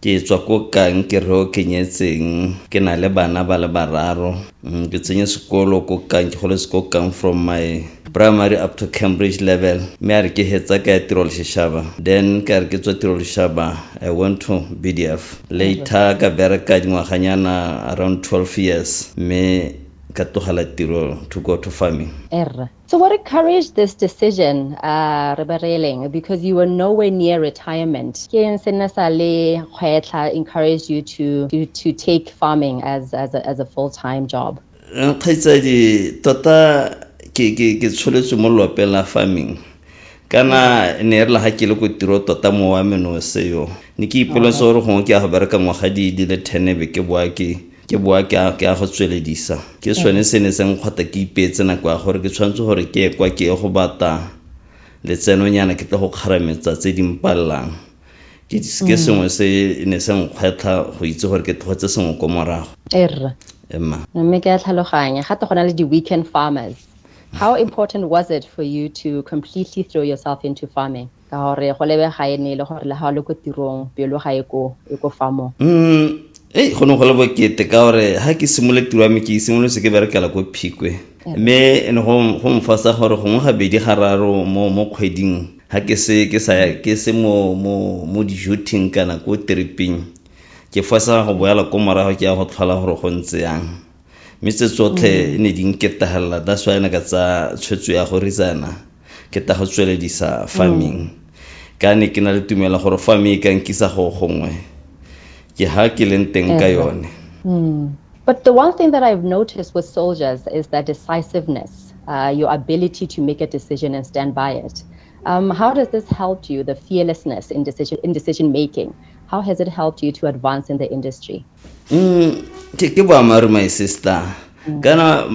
Ke tswa ko Kankereo ke nyetseng ke na le bana ba le bararo. Ke tsenye sekolo ko Kang ke goletse ko Kang from my primary up to Cambridge level mme a re ke hetsa ka ya tiro leshishaba then ka re ke tswa tiro leshishaba I went to BDF later ka bereka dingwaganyana around 12 years mme ka tlogela tiro to go to farming. Rre So what encouraged this decision, uh, Rebereleng, because you were nowhere near retirement? Ken Senasale Khwetla encouraged you to, to, to take farming as, as a, as a full-time job. Nkgaitsadi, tota ke ke ke tsholetswe mo lopeng la farming kana ne re la ga ke le ko tiro tota mo wa menose yo ne ke ipoletse gore gongwe ke ya go bereka ngwaga di di le ten be ke boa ke Ke boa ke a, ke a go tsweledisa. Ke sone se ne sa nkgwata ke ipeetse nako ya gore ke tshwanetse gore ke ye kwa ke ye go bata letsenonyana ke tle go kgarametsa tse di mpalelang. Ke, ke sengwe se ne se nkgwetlha go itse gore ke tlogetse sengwe ko morago. E rra. Emma. Mme ke a tlhaloganya. Gate go na le di-weekend farmers. How important was it for you to completely throw yourself into farming? ka gore go lebe ga e ne e le gore le ga o le ko tirong pelo ga e ko e ko fa mo mm, ei go ne go le bokete ka gore ga ke simole tiro ya me ke simolose ke berekela ko phikwe mme ne go mfasa gore gongwe gabedi gararo mo mo kgweding ga ke se ke sa ke se mo mo mo dijoting kana ko tripeng ke fasa go boela ko morago ke ya go tlhola gore go ntse yang mme tse tsotlhe mm. e ne di nketagelela that's why ne ka tsa tshwetso ya go ritsana ke ta go tsweledisa farming mm. ka ne ke na le tumela gore farm e ka nkisa go gongwe ke ha ke leng teng ka yone mm. But the one thing that I've noticed with soldiers is their decisiveness, uh, your ability to make a decision and stand by it. Um, how does this help you, the fearlessness in decision, in decision making? How has it helped you to advance in the industry? mm, ke ke boammaaruri my sister mm. kana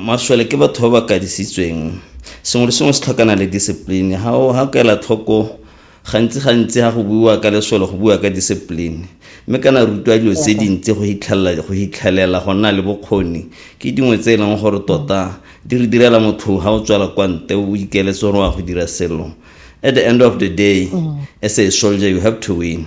maswele ke batho ba ba kadisitsweng sengwe le sengwe se tlhokana le discipline ga o ga kaela tlhoko gantsi gantsi ga go buiwa ka leswelo go buiwa ka discipline mme kana rutwa dilo tse dintsi go hitlhelela go nna le bokgoni ke dingwe tse e leng gore tota di re direla motho ga o tswala kwa nte o ikeletse gore wa go dira selo at the end of the day mm. as a soldier you have to win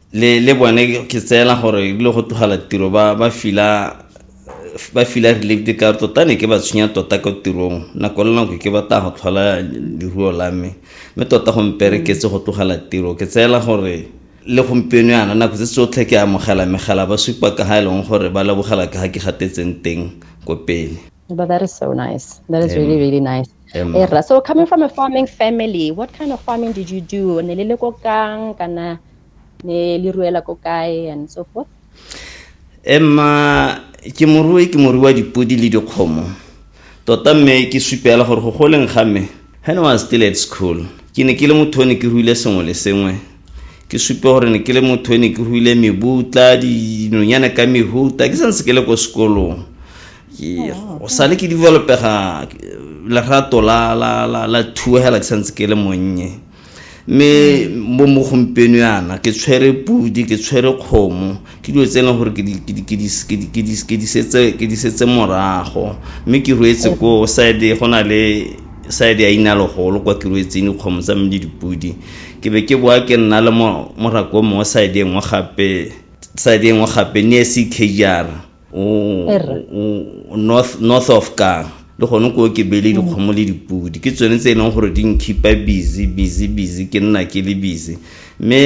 le le bone ke tseela gore e bile go tlogela tiro ba ba fila ba fila relate ka tota ne ke ba tshwenya tota ko tirong nako le nako ke batla go tlhola leruo la me mme tota go mpereketse go tlogela tiro ke tseela gore le gompieno yana nako tse tsotlhe ke amogela megala ba supa ka ga e leng gore ba lebogela ka ga ke gatetseng teng ko pele But that is so nice. That is really, really nice. Emma. So coming from a farming family, what kind of farming did you do? Ne le le ko kang kana ne le ruela ko kae and so forth emma ke morui ke morui wa dipodi le dikgomo tota mme ke supela gore go goleng ga me when I was still at school ke ne ke le motho o ne ke ruile sengwe le sengwe ke supe gore ne ke le motho o ne ke ruile mebutla dinonyane ka mehuta ke santse ke le ko sekolong oh, o sale ke developega lerato la thuegela ke santse ke le monnye mme mo mo gompieno yana ke tshwere pudi ke tshwere kgomo ke dilo tse e leng gore ke di setse morago mme ke ruetse ko side go na le side ya inalogolo kwa ke ruetseng dikgomo tsa mme le dipudi ke be ke boa ke nna le morako mongwe side e nngwe gape side e nngwe gape ne se kejara north north of kang le gone ko ke bele dikgomo le dipodi ke tsone tse e leng gore di nkhipa busy busy busy ke nna ke le busy mme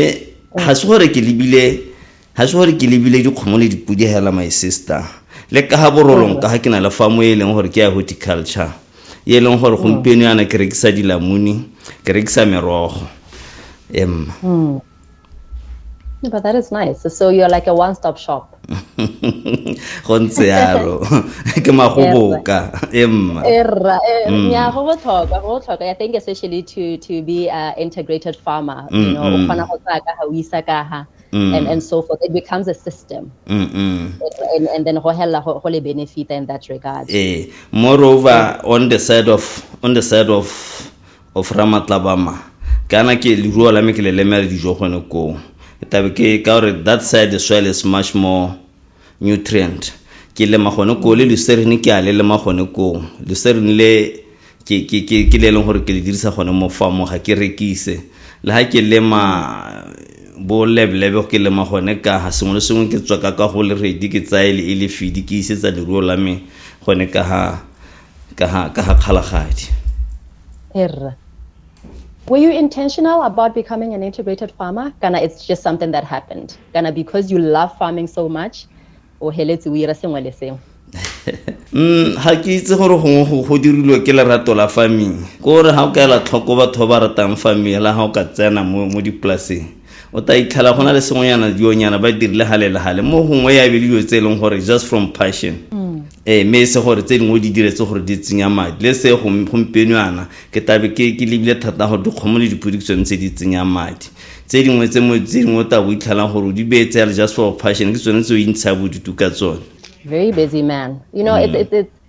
ga se gore ke lebile ga se gore ke lebile dikgomo le dipodi hela my sister le ka ga borolong ka ga ke na le famo e leng gore ke ya horticulture e leng gore gompieno yana ke rekisa dilamuni ke rekisa merogo emma Yeah, but that is nice. So you're like a one-stop shop. go ntse yalo ke magoboka emma erra eh, mm. ya go botlhokwa go botlhokwa i think especially to to be a integrated farmer you mm, know o mm. kgona go tsaya ka ga o isa ka ga Mm. and, and so forth. It becomes a system. Mm -mm. And, and then hohella hole benefit in that regard. Eh. Moreover, on the side of on the side of Ofra Matlabama, Kana ke leruo la me ke le lemela dijo gone koo. Tabe ke ka gore that side the soil is much more nutrient. Ke lema gone koo le luserine ke a le lema gone koo. Luserine le ke ke ke ke le leng gore ke le dirisa gone mo farmong ga ke rekise. Le ha ke lema bo leblebe ke lema gone ka ha sengwe le sengwe ke tswa ka ka go le ready ke tsaye le e le fidi ke isetsa leruo la me gone ka ha ka ha ka ha kgalagadi Erra. Were you intentional about becoming an integrated farmer? Kana it's just something that happened? Kana because you love farming so much, o heletse o ira sengwe le sengwe? Mm, ga ke itse gore gongwe go dirilwe ke lerato la farming ko gore ga o ka ela tlhoko batho ba ba ratang farming la ga o ka tsena mo dipolaseng o ta itlhela go na le sengwenyana dionyana ba dirile gale le gale mo gongwe ya be le dilo tse e leng gore just from passion mm. ee mme e se gore tse dingwe di diretse gore di tsenya madi le se gompieno yana ke tabe ke lebile thata gore dikgomo le dipodi ke tsone tse di tsenyang madi tse dingwe tse dingwe o tla bo itlhelang gore o di beye tse ya le just for passion ke tsone tse o intshaya bodutu ka tsone very busy man you know mm. it, it, it,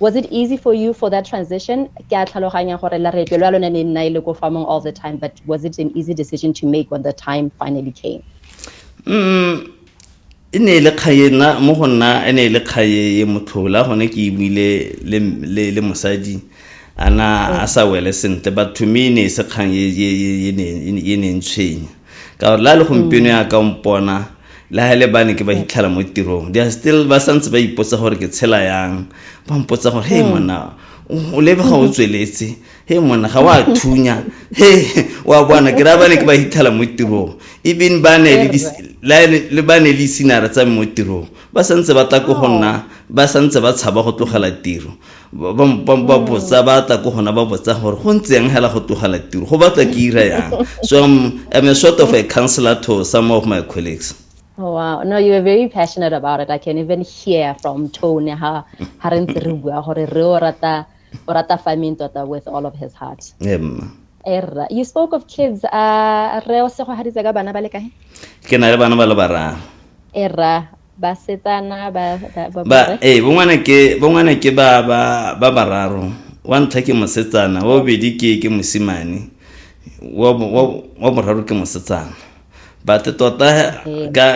Was it easy for you for that transition? Ke a tlhaloganya gore laretlo lwa lone le nna e le ko farmong all the time, but was it an easy decision to make when the time finally came? Mm, e ne e le kgaye nna mo go nna e ne e le kgaye e motlhola gone ke buile le, le, le mosadi ana a sa wele sentle but to me e ne e se kgang e ne e ne e ne e tshwenya ka gore la le gompieno ya ka mpona le ga le bane ke ba hitlhela mo tirong they are still ba santse ba ipotsa gore ke tshela yang ba mpotsa gore hey monna o lebe ga o tsweletse he monna ga wa thunya he wa bona ke ra bane ke ba hitlhela mo tirong even ba ne le ba ne le isinare tsa mo tirong ba santse ba tla ko go nna ba santse ba tshaba go tlogela tiro ba botsa ba tla ko gona ba botsa gore go ntse yang hela go togela tiro go batla ke ira yang so I'm, I'm a sort of a counselor to some of my colleagues Oh, wow. No, you were very passionate about it. I can even hear from tone how ha re ntse re bua gore re o rata o rata farming tota with all of his heart. Yeah, Erra. You spoke of kids. Uh, re o sego haditse ka bana ba le kae? Ke na le bana ba le bararo. Erra. basetsana ba ba- ba- ba ba- ee bongwana ke bongwana ke ba ba ba bararo wa ntlha ke mosetsana wa bobedi ke ke mosimane wa bo- wa bo- wa boraro ke mosetsana but tota Okay. ka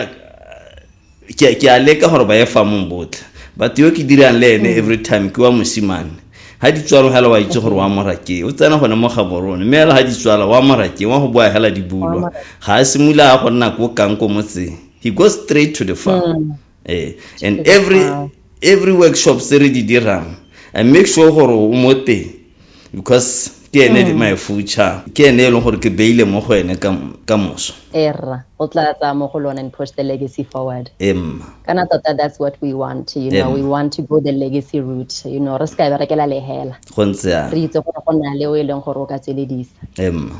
ke ke a leka gore ba ye famong botlhe but yo ke dirang le ene every time ke wa mosimane ha di tswalo hela wa itse gore wa mora ke o tsena gone mo gaborone mme hela ha di tswala wa mora ke wa go boa hela di bulwa ga a simula a go nna ko kang ko motseng he goes straight to the farm mm. eh, and every farm. every workshop se re di dirang i make sure gore o mo teng because ke ene mm. my future ke ene e leng gore ke beile mo go ene ka moso erra o tla tsaya mo go lone and push the legacy forward emma kana tota that's what we want you know we want to go the legacy route you know re se ka berekela lehela go ntse re itse gore go na le o e leng gore o ka tsweledisa emma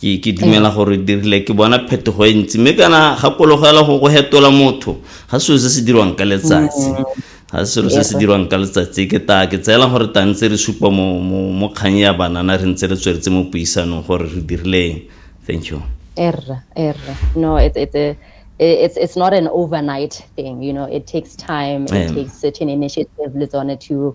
ke ke dumela gore dirile ke bona phetogo e ntsi mme kana gakologela go go hetola motho ga selo se se dirwang ka letsatsi ga selo se se dirwang ka letsatsi ke ta ke tseela gore ta ntse re supa mo mo kgang ya banana re ntse re tsweletse mo puisanong gore re dirileng thank you erra erra no it's it's a it's it's not an overnight thing you know it takes time it takes certain initiative le tsone to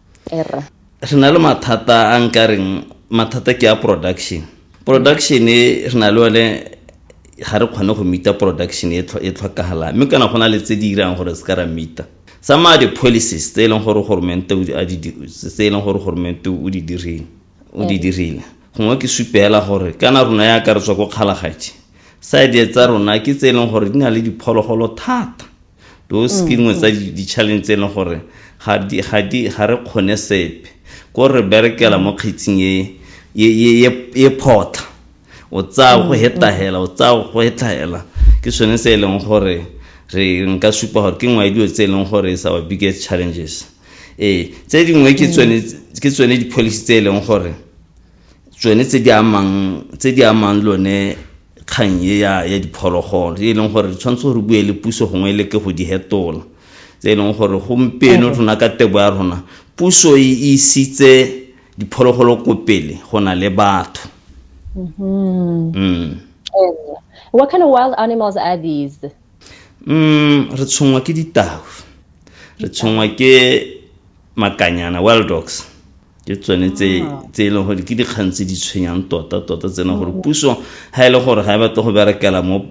erra re na le mathata a nkareng mathata ke a production production e re na le one ga re kgone go meeta production e tlhokagalang mme kana go na le tse di irang gore se ka ra meeta some of di-policies tse e leng gore goromente tse e leng gore goromente o di dirile o di dirile gongwe ke supela gore kana rona ya ka re tswa ko kgalagaje side tsa rona ke tse e leng gore di na le diphologolo thata Those ke nngwe tsa di-challenge tse e leng gore ga re kgone sepe ko re berekela mo kgetsing e photlha o tsaya go hetahela o tsaya go hetahela ke sone se e leng gore re nka supa gore ke nngwe ya dilo tse e leng gore is our biggest challenges ee tse dingwe ke tsone di-policy tse e leng gore tsone tse di amang lone kgang e ya ya diphologolo e leng gore re tshwanetse gore bue le puso gongwe e le ke go di hetola tse e leng gore gompieno rona ka tebo ya rona puso e isitse diphologolo ko pele go na le batho mm-hmm. mm. what kind of wild animals are these mm, re tshongwa ke ditau re tshongwa ke makanyana wild dogs ke tsone tse ah. tse e leng gore ke dikgang tse di tshwenyang tota tota tse e leng gore mm. puso ga e le gore ga e batla go berekela mo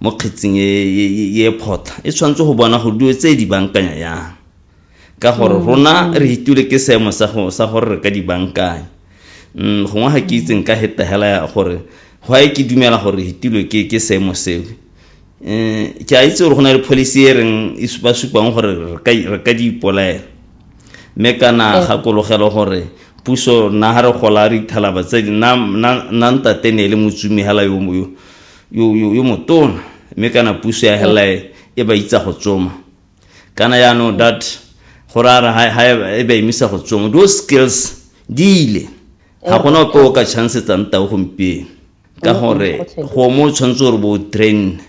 mo kgetsing e, e, e, e photlha e tshwanetse go bona gore dilo tse di bankanya yang ka gore mm. rona re itule ke seemo sa gore re ka di bankanya mm, gongwe ga ke itseng ka hetegela ya gore go a ke dumela gore re itulwe ke seemo seo um ke a itse gore go na le policy e reng e ba supang gore re ka di ipolaela mme kana eh. gakologelo gore puso nna ga re gola re ithalaba tse di nna ntate ne e le motsumi hela yo motona mme kana puso ya hela eh. e ba itsa go tsoma kana yaanong that gore a re e ba emisa go tsoma those skills di ile ga gona ope o ka chansetsa ntao gompieno ka gore gongwe o tshwanetse gore bo train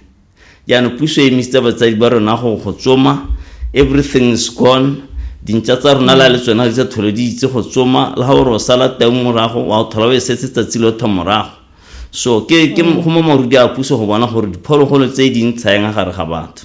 jaanong puso e emisitse batsadi ba rona go go tsoma everything is gone dintša tsa rona la le tsona tsa thole di itse go tsoma le ga gore o sala teng morago wa o thola o e setse tsatsi lotho morago so ke ke mm. go mo marudi a puso go bona gore diphologolo tse di ntshayeng a gare ga batho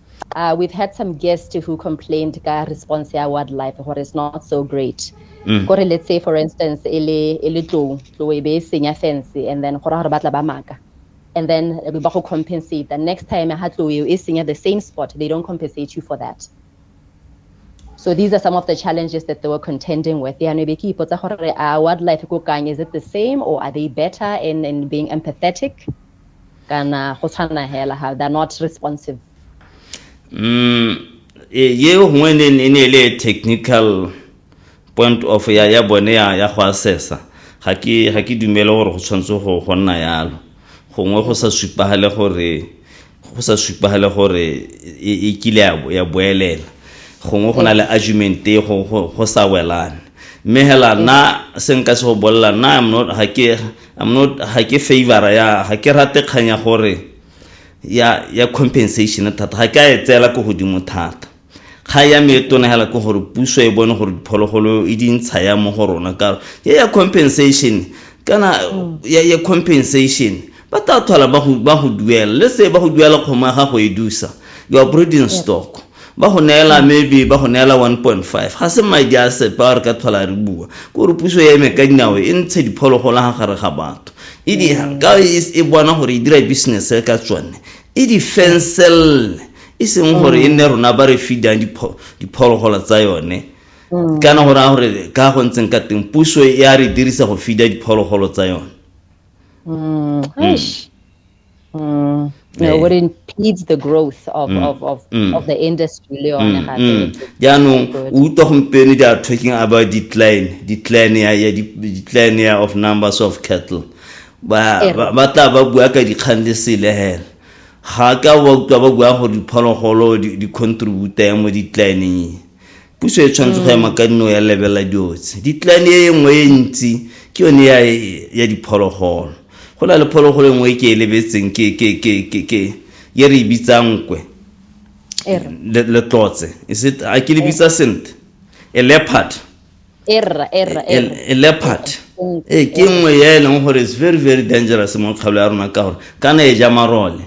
Uh, we've had some guests who complained ka response ya wildlife gore it's not so great mm. kore let's say for instance e le e le tlou tlou e be e senya fence and then go ra gore ba tla ba maka and then eh, ba go compensate the next time ha tlou eo e senya the same spot they don't compensate you for that so these are some of the challenges that they were contending with yaanong be ke ipotsa gore a wildlife ko kang is it the same or are they better in, in being empathetic kana go tshwana hela ha they're not responsive mm e, ye gongwe e ne e ne le technical point of ya ya bone ya ya go assessa ga ke ga ke dumele gore go tshwanetse go go nna yalo gongwe go sa supagale gore go sa supagale gore e, e kile ya boelela gongwe go na le argument e go sa welane mme hela nna se nka se go bolelela nna ga ke I'm not ha ke favor ya ha ke rate kganya gore ya ya compensation thata ga ke a e tseela ko godimo thata ga ya me e tona hela ke gore puso e bone gore diphologolo e dintsha ya mo go rona ka ya ya compensation kana mm. ya ya compensation ba tla thola ba go ba go duela le se ba go duela kgoma ga go e dusa you are breeding stock ba go neela maybe ba go neela 1.5 ga se madi a sepe a re ka tlhola re bua kore puso ya eme ka dinao e ntshe diphologolo ga gare ga batho e di mm. ka e, e bona gore e dira business e ka tsone e di fenselele e seng gore e nne rona ba re feedang diphologolo tsa yone mm. kana gore a gore ka go ntseng ka teng puso e a re dirisa go feeda diphologolo tsa yone mm. Mm. Yeah. what impedes the growth of, mm. of, of, mm. of the industry le yone mm. gape mm. jaanong o utlwa gompieno they are talking about decline decline ya ya decline ya of numbers of cattle ba ba tla ba bua ka dikgang le sele hela ga ka ba utlwa ba bua gore diphologolo di contribute mo declineng puso e tshwanetse go ema ka nno ya lebelela dilo tse ditlane e nngwe e ntsi ke yone ya ya diphologolo go na le phologolo e nngwe e ke e lebetseng ke ke ke ke ke ye re e bitsang kwe le tlotse is it a ke le bitsa sentle a leopard erra erra a leopard e ke nngwe ya e leng gore is very very dangerous mo kgaolo ya rona ka gore kana e ja marole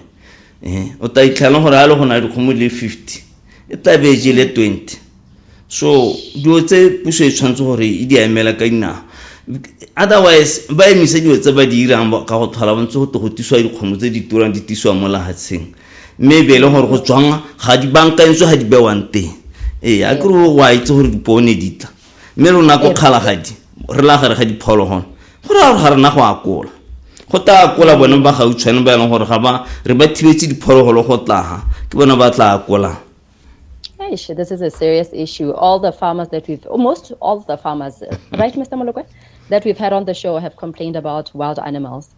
eh, o ta itlhana gore a le go na le dikgomo le fifty e tla be je le twenty so dilo tse puso e tshwanetse gore e di emela ka dinao otherwise ba emise dilo tse ba di irang ka go tlhola bontse go te go tiswa dikgomo tse di turang di tisiwa mo lahatsheng mme e be e le gore go tswang ga di bankantswe ga di bewang teng ee a kere wa itse gore dipone di tla mme rona ko kgalagadi re la gare ga diphologolo go raya gore ga rena go akola go tla akola bone ba gautshwane ba e leng gore ga ba re ba thibetse diphologolo go tlaga ke bone ba tla akolang Eish, this is a serious issue. All the farmers that we've, almost all the farmers, right, Mr. Molokwe, that we've had on the show have complained about wild animals.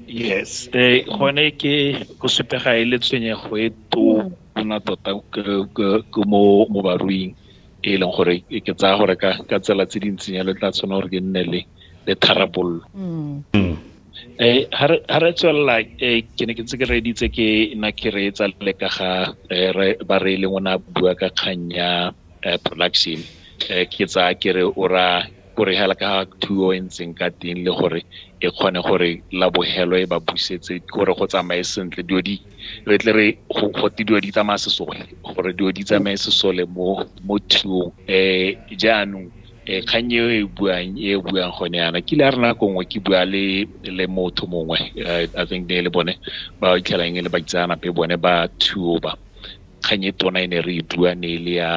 yes eh gone ke go supega e le tshwenyego e tona tota ke mo mo baruing e leng gore ke tsaya gore ka ka tsela tse di ntseng yalo tla tshwana gore ke nne le le tharabololo mm. mm. eh ha re tswelela eh ke ne ke tse ke reditse ke na ke re tsa le ka ga eh, ba re e leng ona bua ka kganya eh, production eh, ke tsa ke re o ra gore hela ka thuo e ntseng ka teng le gore e kgone gore la bogelo e ba busetse gore go tsamaye sentle dilo di re tle re gote dilo di tsamaya sesole gore dilo di tsamaye sesole mo mo thuong um jaanong um kgang eo e buang e buang gone yana kile a re nako nngwe ke bua le le motho mongwe i think ne le bone ba itlhelang e le ba itseanape bone ba thuo ba kgang e tona e ne re e bua ne e le ya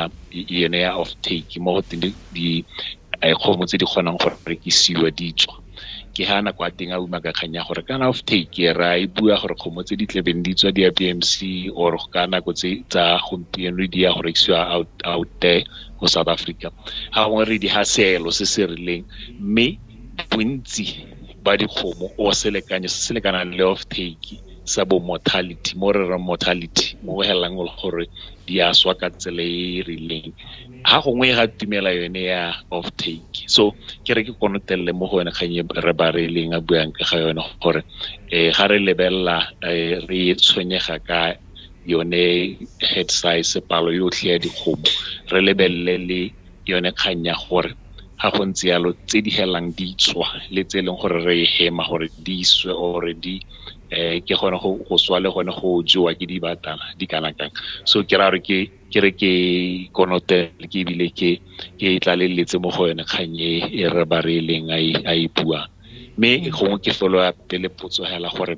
yone ya off take mo go teng dikgomo tse di kgonang go rekisiwa di tswa ke ha nako a teng a uma ka kgang ya gore kana off take ra e bua gore kgomo tse di tlebeng di tswa di ya BMC or ka nako tse tsa gompieno di ya go rekisiwa out out there go South Africa ga gongwe re di ha seelo se se rileng mme bontsi ba dikgomo o selekanyo se se lekanang le off take sa bo mortality mo re reng mortality mo go helelang e le gore di a swa ka tsela e e rileng ha gongwe ga tumela yone ya off take so ke re ke konotelele mo go yone kgang e re ba re leng a buang ka ga yone gore um ga re lebelela um re tshwenyega ka yone head size palo yotlhe ya dikgomo re lebelele le yone kgang ya gore ga go ntse yalo tse di helang di tswa le tse e leng gore re e hema gore di swe or di um ke gone go swa le gone go jewa ke dibatana di kana kang so ke ra gore ke ke re ke konote ke ebile ke ke tlaleletse mo go yone kgang e e re ba re e leng a e buang mme gongwe ke felo ya pele potso hela gore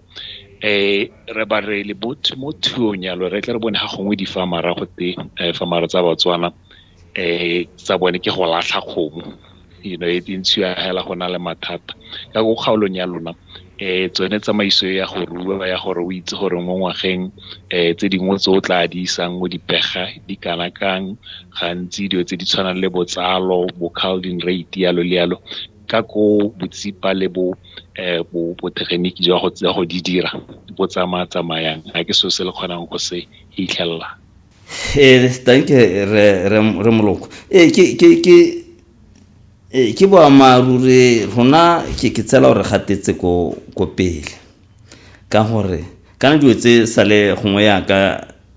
eh re ba re le mo thuong yalo re tle re bone ga gongwe di fa mara go te fa mara tsa batswana eh tsa bone ke go latlha kgomo you know e ntshiwa hela go na le mathata ka go kgaolong ya lona eh tsone tsamaiso ya go rua ya gore o itse gore mo ngwageng eh tse dingwe tse o tla di isang mo dipega di kana kang gantsi dilo tse di tshwanang le botsalo bo calding rate yalo le yalo ka ko botsipa le bo eh bo botegeniki jwa go tsa go di dira bo tsamaya tsamayang ga ke so se le kgonang go se hitlhelela ee danke re, re, re moloko ee ke, ke, ke ee ke boammaaruri rona ke ke tsela gore gatetse ko ko pele ka gore kana dilo tse sale gongwe yaka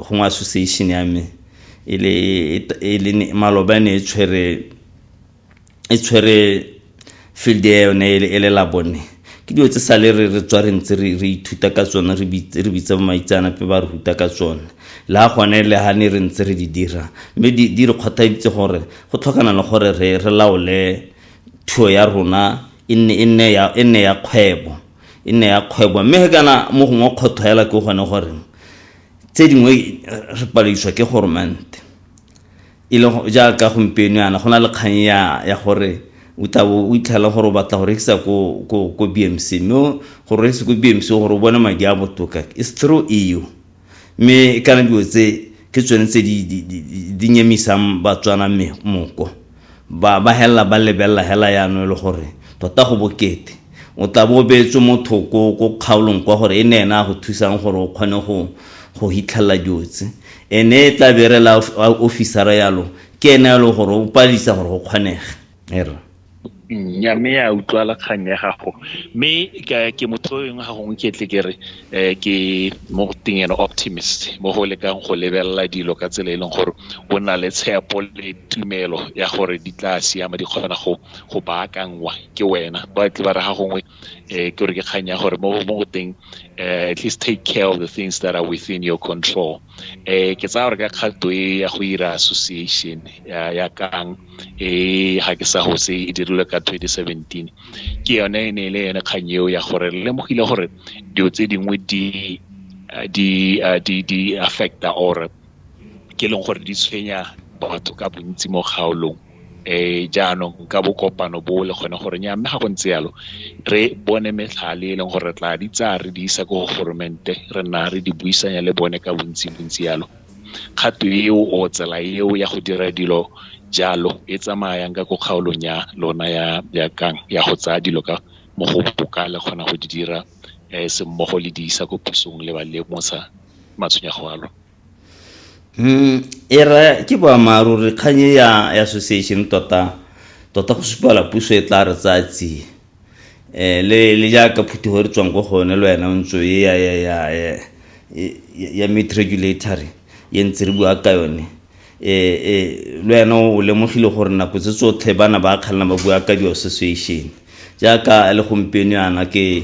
gongwe association ya me e le e le maloba ne e tshwere e tshwere field ya yone e le labone ke dilo tse sale re re tswa re ntse re ithuta ka tsone re bitsa bo maitseanape ba re ruta ka tsone le ga gone le ga ne re ntse re di dira mme di re kgothaditse gore go tlhokana le gore re re laole thuo ya rona e nne ya kgwebo e nne ya kgwebo mme he kana mo gongwe kgotho hela ke gone gore tse dingwe re paledišwa ke goromente E le jaaka gompieno yana, go na le kgang ya, ya gore o tla bo o itlhela gore o batla go rekisa ko, ko, ko BMC. Mme o, gore o rekise ko BMC gore o bone madi a botoka, it's through EU. Mme e kana dilo tse, ke tsone tse di, di, di, di, di nyemisang Batswana me, moko. Ba, ba helela ba lebelela hela yano e le gore tota go bokete. O tla bo o beetswe mo thoko ko kgaolong kwa gore e nne ena a go thusang gore o kgone go go hitlhelela dilo tse. Ene e tla be e rela ofisara yalo ke ene yalo gore o palisa gore go kgonege. Err. Nya mme ya utlwala kgang ya gago mme ke motho eng ga gongwe ke tle ke re ke mo teng ene optimist mo go lekang go lebelela dilo ka tsela e leng gore o na le tshepo le tumelo ya gore di tla siama di kgona go go baakanngwa ke wena ba tle ba re ga gongwe um ke gore ke kgang ya gore mo go teng um at least take care of the things that are within your control um ke tsaya gore ka kgato e ya go ira association ya kang e ga ke sa gose e dirilwe ka 2017 ke yone e ne e le yone kgang eo ya gore le lemogile gore dilo tse dingwe di di di di affecta or ke leng gore di tshwenya batho ka bontsi mo kgaolong jaanong ka bo kopano bo le kgone gore nyaa mme ga go ntse yalo re bone metlhale e leng gore re tla di tsaya re di isa ko go goromente re nna re di buisanya le bone ka bontsi bontsi yalo kgato eo o tsela eo ya go dira dilo jalo e tsamayang ka ko kgaolong ya lona ya ya kang ya go tsaya dilo ka mo go boka le kgona go di dira um semmogo le di isa ko pusong le ba lemosa matshwenyego a lona. Mm, e re ke boammaaruri kgang e ya association tota tota go supala puso e tla re tsaya tsie um le le jaaka phutego re tswang ko gone le wena o ntse e ya ya ya ya meat regulatory ye ntse re bua ka yone um le wena o lemogile gore nako tse tsotlhe bana ba kgalela ba bua ka di-association jaaka le gompieno yana ke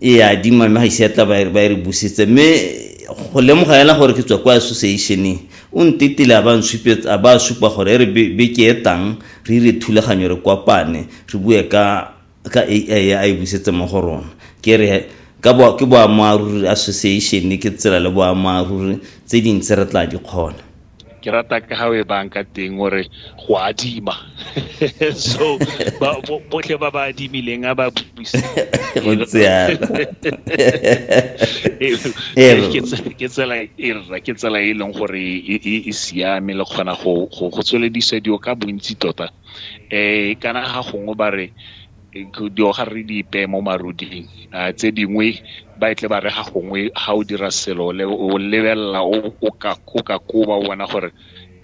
e a adima mme ga ise ya tla ba e re busetse mme go lemoga ela gore ke tswa kwa associationeng o ntetile a ba a supa gore e re beke e tang re ire thulaganyo re kopane re bue ka ka ai a e busetse mo go rona ke re ka bo ke boammaaruri association ke tsela le boammaaruri tse dintsi re tla di kgona ke rata ka ga o e bang ka teng gore go adima so botlhe ba ba adimileng a ba buse ke tsela e rra ke tsela e leng gore e, e, e siame le kgona go tsweledisa dio ka bontsi tota um kana ga gongwe ba re ga re di ipeye mo maruding tse dingwe ba e tle ba re ga gongwe ga o dira selo le o lebelela o ka koba o bona gore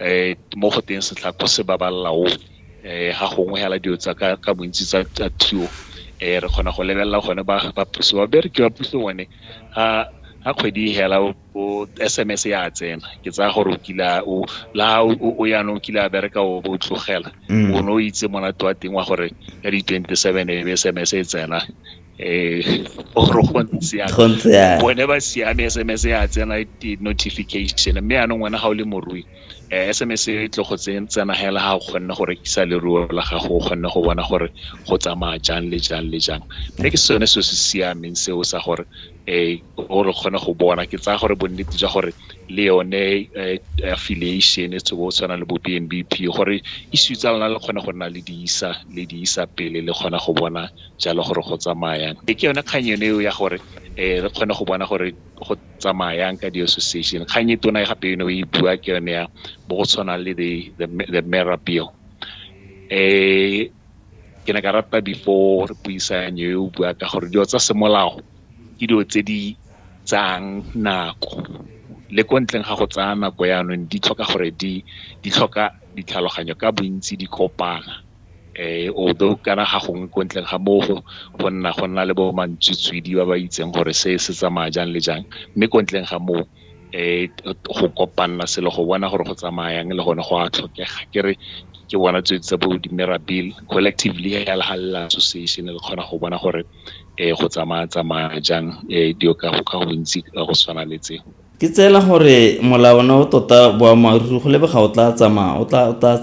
um mo go teng setlhako se babalela o um ga gongwe fela dilo tsa ka bontsi tsa thuo um re kgona go lebelela gone ba puso babereki ba puso bone ga kgwedi fela o S_M_S ya tsena ke tsaya gore o kila o la o yanong o kile a bereka o bo tlogela mm. o ne o itse monate wa teng wa gore ka di twenty seven e be S_M_S e tsena um gore go ntse bone ba siame S_M_S ya tsena notification mme yanong wena ga o le morui um S_M_S e tle go tsena hela ga o kgonne go rekisa leruo la gago o kgonne go bona gore go tsamaya jang le jang le jang mme ke sone se se siameng seo sa gore um gore re kgone go bona. Ke tsaya gore bonnete jwa gore le yone affiliation e go tshwana le bo B_N_B_P gore issue tsa lona le kgone go nna le di isa le di isa pele le kgona go bona jalo gore go tsamaya yang. Ke yone kgang yone eo ya gore re kgone go bona gore go tsamaya yang ka di-association. Kgang e tona gape eno e bua ke yone ya bo go tshwanang le the Mera Bill. ke ne ka rata before re puisano e o bua ka gore dilo tsa semolao ke dilo tse di tsayang nako le ko ntleng ga go tsaya nako jaanong di tlhoka gore di tlhoka ditlhaloganyo ka bontsi di kopana although kana ga gongwe ko ntleng ga moo go nna go nna le bo ba ba itseng gore se se tsamaya jang le jang mme ko ntleng ga moo. go kopanela selo go bona gore go tsamaya yang le gone go a tlhokega. Ke re ke bona tse tsa bo di-mirabile, collective legal association, le kgona go bona gore go tsamaya-tsamaya jang dilo ka bontsi ka go tshwana le tseo. Ke tseela gore molawana o tota boammaaruri go lebega o tla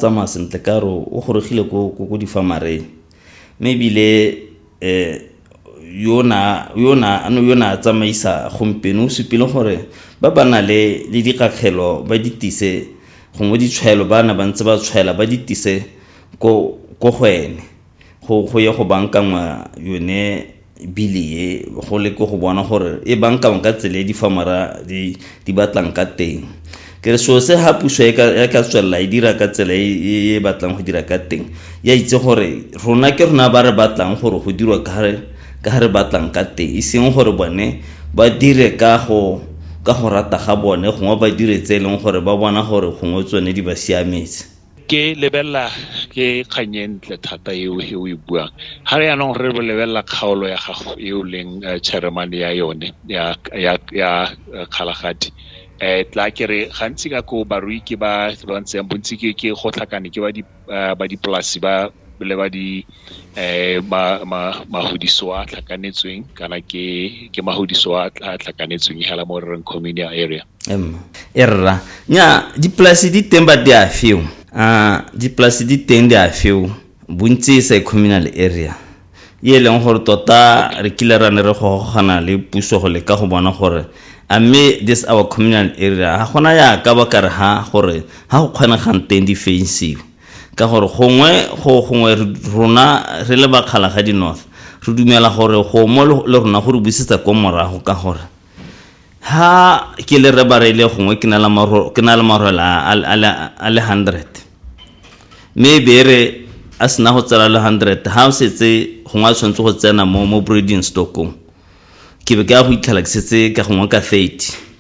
tsamaya sentle ka gore o gorogile ko difamareng. Mme ebile yo ne a tsamaisa gompieno o supile gore ba ba nang le dikgakgelo ba di tise gongwe ditshwaelo ba ne ba ntse ba tshwaela ba di tise ko go ene go ye go bankangwa yone Bili e, go le ko go bona gore e bankangwe ka tsela e difamara di batlang ka teng. Ke re selo se ha puso e ka tswelela e dira ka tsela e, e, e batlang go dira ka teng, ya itse gore rona ke rona ba re batlang gore go dirwa ka ga re batlang ka teng, e seng gore bone ba dire ka go ka go rata ga bone gongwe ba dire tse e leng gore ba bona gore gongwe tsone di ba siametse. Ke lebelela ke kgang e ntle thata eo e o e buang. Ga re yanong re lebelela kgaolo ya gago e o leng chairman ya yone ya Kgalagadi tla ke re gantsi ka ko barui ke ba ba ntseng bontsi ke go tlhakane ke ba dipolasi ba le ba di mahudiso a tlhakanetsweng kana ke ke mahudiso a tlhakanetsweng hela mo reng community area emma e rra nya dipolasi di teng ba di a feo a dipolasi di teng di a feo bontsi e sa e communal area e leng gore tota re kile ra ne re gogogana le puso go leka go bona gore a mme this our communal area ga gona ya ka ba kare ha gore ga go kgonegang teng di fensiwe Ka gore gongwe go gongwe rona re le ba Kgalagadi North re dumela gore go mo le rona go re busetsa ko morago ka gore ha ke le Rre Bareile gongwe ke na le marwela a le hundred mme e be re a sena go tsela le hundred ha o setse gongwe a tshwanetse go tsena mo mo breeding stock-ong. ke be ke ya go itlhela ke setse ka gongwe ka 30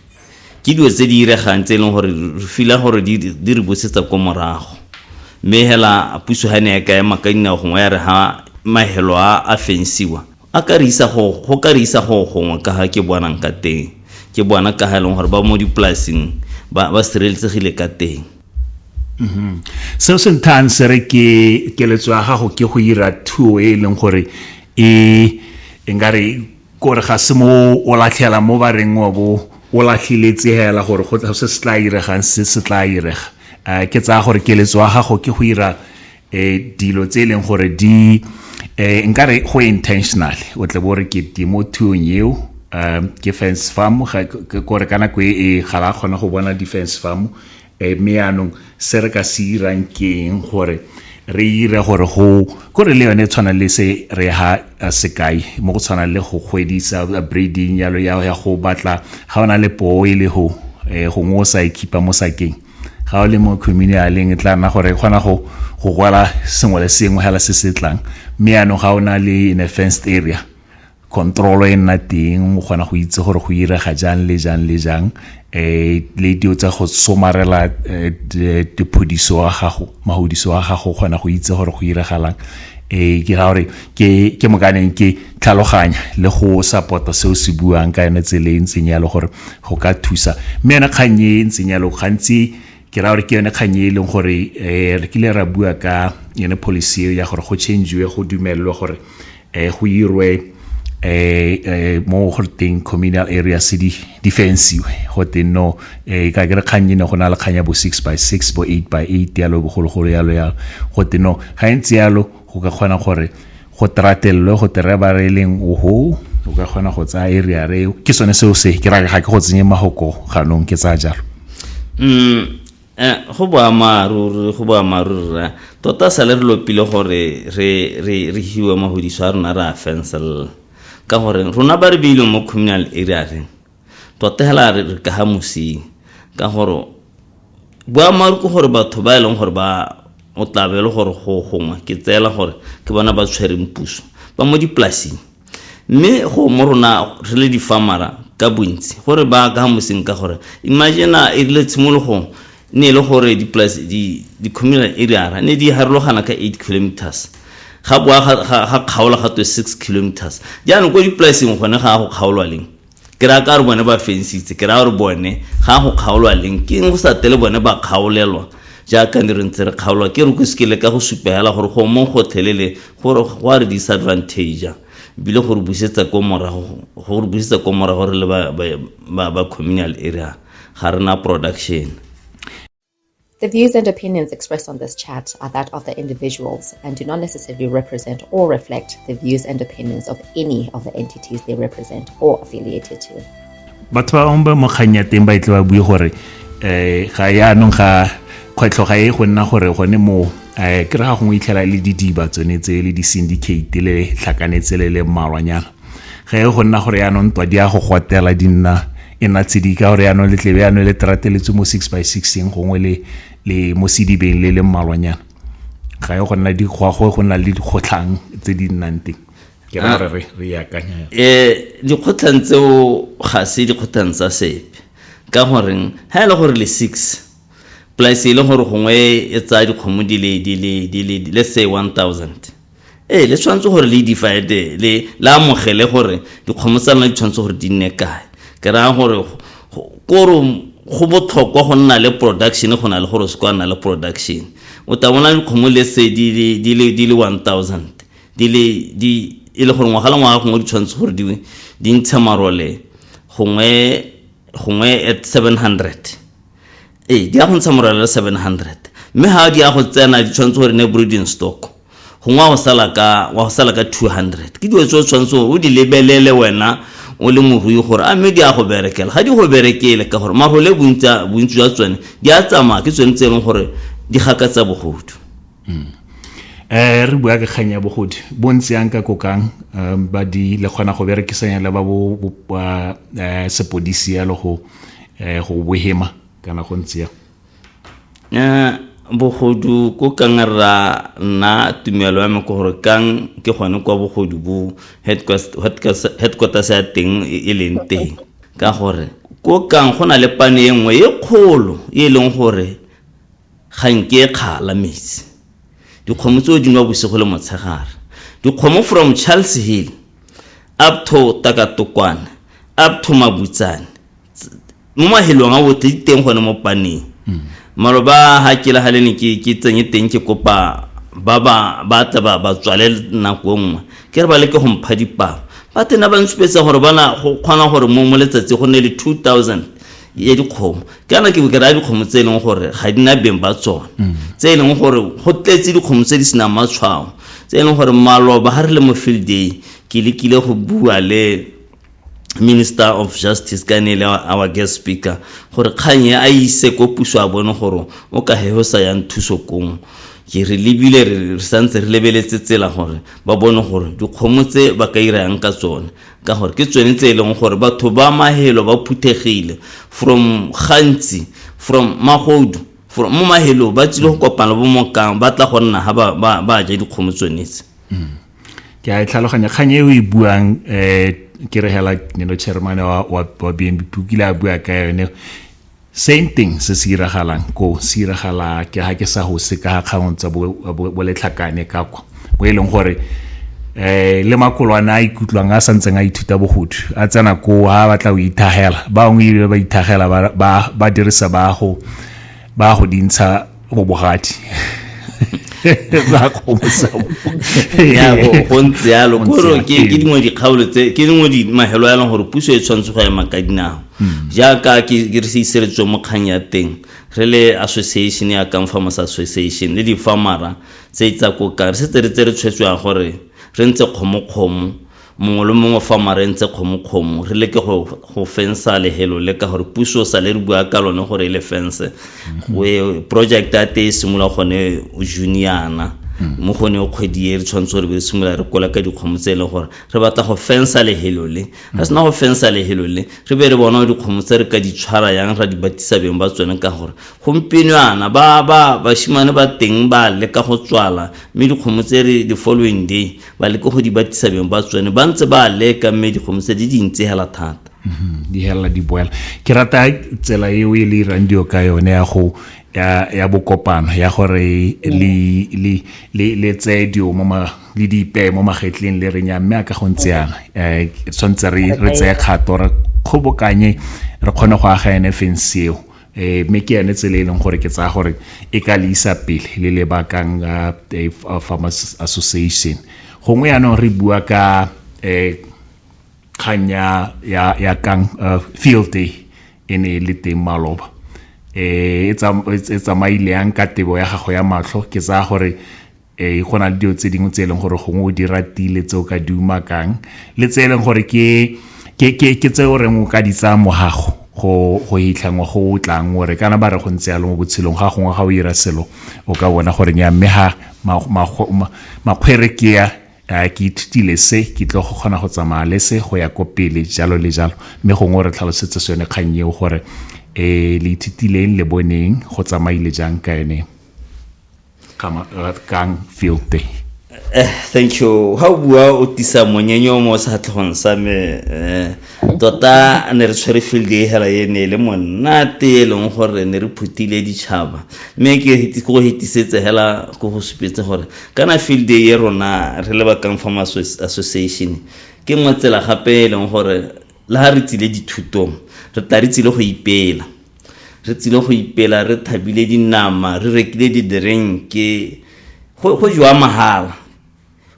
ke dilo tse di iregang tse e leng gore re fila gore di re busetsa ko morago mme hela puso ga ne ya ka ema ka dinao gongwe ya re ha mahelo a a fensiwa a ka re isa go go ka re isa go gongwe ka ga ke bonang ka teng ke bona ka ga e leng gore ba mo dipolaseng ba ba sireletsegile ka teng mm-hmm. seo se nthang se re ke keletso ya gago ke go ira thuo e e leng gore e e nka re kore ga se mo o latlhela mo ba reng wa bo o latlhile tsegela gore go se se tla iregang se se tla irega um ke tsaya gore keletso ya gago ke go ira eh dilo tse e leng gore di eh nkare go intentional o tle bo re ke timo thuong eo um ke fence farm ke kore ka nako e ga la kgona go bona di-fence farm um eh, mme yaanong se re ka se irang keng gore re ire gore go kore le yone e tshwana le se re ha sekai mo go tshwana le go kgwedisa breeding yalo ya go batla ga o na le poo e le go um gongwe o sa e khipa mo sakeng ga o le mo communaleng e tla nna gore e kgona go go rwala sengwe le sengwe fela se se tlang mme yaanong ga o na le in a fenced area control e nna teng o kgona go itse gore go irega jang le jang le jang um le dio tsa go somarela diphodiso wa gago mahodiso wa gago o kgona go itse gore go iragalang um ke ra gore ke mokaneng ke tlhaloganya le go support-a se o se buang ka yone tsela e ntseng yalo gore go ka thusa mme yone kgang e e ntseng yalo gantsi ke raya gore ke yone kgang e e leng gore um re kile ra bua ka yone policy eo ya gore go changiwe go dumelelwe gore um go irwe um mo go teng communal area se di di fensiwe go teng no um ka ke re kgang e ne go na le kgang ya bo six by six bo eight by eight yalo bogologolo yalo yalo go teng no ga e ntse yalo go ka kgona gore go tratelelwe go tere ba re leng oho o ka kgona go tsaya area re ke sone seo se ke ra ga ke go tsenye mahoko ganong ke tsaya jalo mm eh, go boammaaruri go boammaaruri ra tota sale re lopile gore re re re hiwe mahodiso a rona re a fencelela ka gore rona ba re beileng mo communal area reng Tota hela re re ka ha mosing ka gore boammaaruri ke gore batho ba e leng gore ba o tla be le gore go gongwe ke tseela gore ke bona ba tshwereng puso ba mo dipolasing mme go mo rona re le difamara ka bontsi gore ba ka moseng ka gore imagine a e rile tshimologong ne e le gore di-communal areara ne di harologana ka eight kilometers ga boa ga kgaola ga twe six kilometers jaanong ko dipolaseng gone ga a go kgaolwa leng Ke raya ka re bone ba fensitse, ke raya gore bone ga go kgaolwa leng, ke eng go sa tele bone ba kgaolelwa jaaka ne re ntse re kgaolwa? Ke re ko se ke leka go supa hela gore go mong gotlhelele gore go a re disadvantager ebile go re busetsa ko morago, go re busetsa ko morago re le ba communal area ga re na production. The views and opinions expressed on this chat are that of the individuals and do not necessarily represent or reflect the views and opinions of any of the entities they represent or affiliated to. batho ba bangwe ba mo kgang ya teng ba itle ba bue gore um ga yaanong ga kgwetlho ga e go nna gore gone moo um ke re ga gongwe itlhela le didiba tsone tse le di-syndicate le tlhakanetse le le mmalwanyana ge go nna gore yaanong ntwa di ya go gotela di nna e nna tshedi ka gore yaanong letlebe yaanong le terateletswe mo six by sixeng gongwe le le mo sedibeng le le mmalwanyana ga e go nna di go go nna le dikgotlhang tse di nnang teng ke ra gore re re yakanya um eh, dikgotlhang tseo ga se dikgotlhang tsa sepe ka goreng ga e le gore le six polase e le gore gongwe e tsaya dikgomo di le let's say one thousand Ee, le tshwanetse gore le divide le le amogele gore dikgomo tsa lona di tshwanetse gore di nne kae. Ke raya gore kore go botlhokwa go nna le production go na le gore se kwa nna le production. O tla bona dikgomo le se di le di le di le 1000 di le di e le gore ngwaga le ngwaga gongwe di tshwanetse gore di di ntshe marole gongwe gongwe at 700 ee di ya go ntsha morwalo le 700 mme ga di ya go tsena di tshwanetse gore ne breeding stock gongwe wa go sala ka wa go sala ka 200 ke dilo tse o tshwanetse o di lebelele wena o le morui gore a mme di ya go berekela ga di go berekele ka gore marole bontsi jwa tsone di a tsamaya ke tsone tse e leng gore di gakatsa bogodu um re bua ka kgang ya bogodi bo ntse yang ka kokang um ba di le kgona go berekisanya le ba bo eh, sepodisi yalo go eh, go bohema kana go ntse ya eh, bogodu ko kang ra nna tumelo ya me ke gore kang ke gone kwa bogodu bo headquarters ya teng e, e leng teng ka gore ko kang go na le pane e nngwe e kgolo e leng gore Ga nke kgala metsi. Dikgomo tseo di nwa bosigo le motshegare. Dikgomo from Charles Hill up to Takatokwane up to Mabutsane mo mahelong a otlhe di teng gone mo paneng. Maro ba ha ke la ha le ne ke ke tsenye teng ke kopa ba ba ba tla ba ba tswale nako nngwe ke re ba leke go mpha dipalo ba tena ba nsupetsa gore bana go kgona gore mo mo letsatsi go nne le 2000 ya dikgomo kana ke ke raya dikgomo tse e leng gore ga di na beng ba tsone mm. tse e leng gore go tletse dikgomo tse di senang matshwao tse e leng gore maloba ga re le mo field day ke lekile go bua le minister of justice ka ne le our guest speaker gore kgang e a ise ko puso a bone gore o ka he o sa yang thuso kong ke re lebile re santse re lebeletse tsela gore ba bone gore dikgomo tse ba ka irayang ka tsone ka gore ke tsone tse e leng gore batho ba mahelo ba phuthegile from gantsi from magodu from mo mahelong ba tsile go kopana bo mokang ba tla go nna ga ba ja dikgomo tsonetse mm. ke a e tlhaloganya kgang e o e buang um ke re hela neno chairmane wa b n b pukile a bua ka yone Same thing se se iragalang ko se iragala ke ga ke sa go se ka kgang tsa boletlhakane ka kwa mo e leng gore um le makolwane a ikutlwang a santseng a ithuta bogodu a tsena koo a batla go ithagela bangwe ebile ba ithagela ba dirisa baago ba go dintsha mo bogati ya go ntse yalo koro ke dingwe dikgaolo tse ke dingwe di mahelo ya leng gore puso e tshwanetse go ema ka dinao hmm. jaaka ke re se iseletswe mo kgang ya teng re le association ya kang farmers association le di-farmera tse tsa kokang re setse re tse re tshwetswang gore re ntse kgomokgomo Mongwe le mongwe fa mare ntse kgomokgomo, re leke go, go fensa lehelo le ka gore puso sa le re bua ka lone gore e le fense. We, project ya te e simolola gone June yana. Mo gone o kgwedi e re tshwanetse gore be re simolola re kola ka dikgomo tse e leng gore re batla go fensa lehelo le. Re sena go fensa lehelo le, re be re bona gore dikgomo tse re ka di tshwara yang ra di batisa beng ba tsone ka gore gompieno yana ba, ba, bashimane ba teng ba leka go tswala mme dikgomo tse re the following day ba leke go di batisa beng ba tsone ba ntse ba leka mme dikgomosa di dintse hela thata Mhm, di helela di boela ke rata tsela eo e le irang dio ka yone ya go ya ya bokopano ya gore le le le le tseye dio mo ma le di ipeye mo magetleng le re nya mme a ka go ntse yana eh tshwantse re re tseye kgato re kgobokanye re kgone go aga ene feng seo um mme ke yone tsela e leng gore ke tsaya gore e ka le isa pele le le bakang farmers association gongwe yaanong re bua ka um kgang ya kang field day e ne e le teng maloba um e tsamaile yang ka tebo ya gago ya matlho ke tsaya gore e go na le dilo tse dingwe tse e leng gore gongwe o di ratile tse o ka di umakang le tse e leng gore ke tse o reng o ka di tsaya mogago go go hitlhangwa go o tlang ore kana ba re go ntse yalo mo botshelong ga gongwe ga o ira selo o ka bona gore ya mme ga makgwere ke ya ke ithutile se ke tlo go kgona go tsamaya le se go ya ko pele jalo le jalo mme gongwe re tlhalosetse sone kgang eo gore um le ithutileng le boneng go tsamaile jang ka ene Kamarad Kang Field Day. Eh, thank you. Ha o bua o tisa monyenyo mo sehatlhogong sa me eh, tota ne re tshwere field e hela e ne e le monate e leng gore ne re phutile ditšhaba mme ke go hetisetse hela ko go supetse gore kana field day e rona re le bakang farm association ke nngwe tsela gape e leng gore le ga re tsile dithutong re tla re tsile go ipela Re tsile go ipela re thabile dinama, re rekile didirenke, go, go jewa mahala.